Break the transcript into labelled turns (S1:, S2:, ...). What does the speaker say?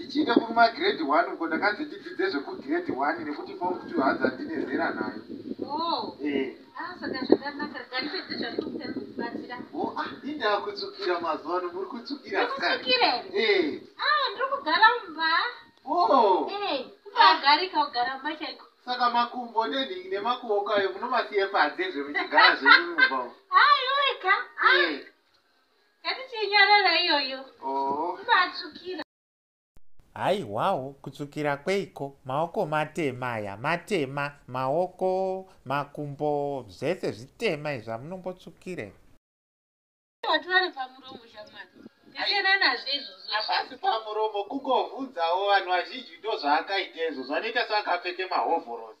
S1: ndichiita kuruma grade one uko ndakanzi ndidzidze zvekugrade one nekuti fom two hanzi handine zera nayo oh. eh.
S2: ah, oh, ah,
S1: indakutsukira mazuva ano muri kutsukira eh. ah,
S2: ndiri kugara mumba oh. eh, kubagarika kugara mumba chaiko saka makumbo
S1: nenhingi nemakuoko ayo munomasiya panze zvemuchigara zvenyu mumba aiweka
S2: ngatichinyarara iyoyo oh. matsukira
S3: haiwawo kutsvukira kweiko maoko matema aya matema maoko makumbo zvese zvitema izvi amunombotsvukire
S2: hapasi pamuromo
S1: kungovhunzawo vanhu vazhinji ndo zvaakaita izvo zvanoita seakapfeke mahovhorosi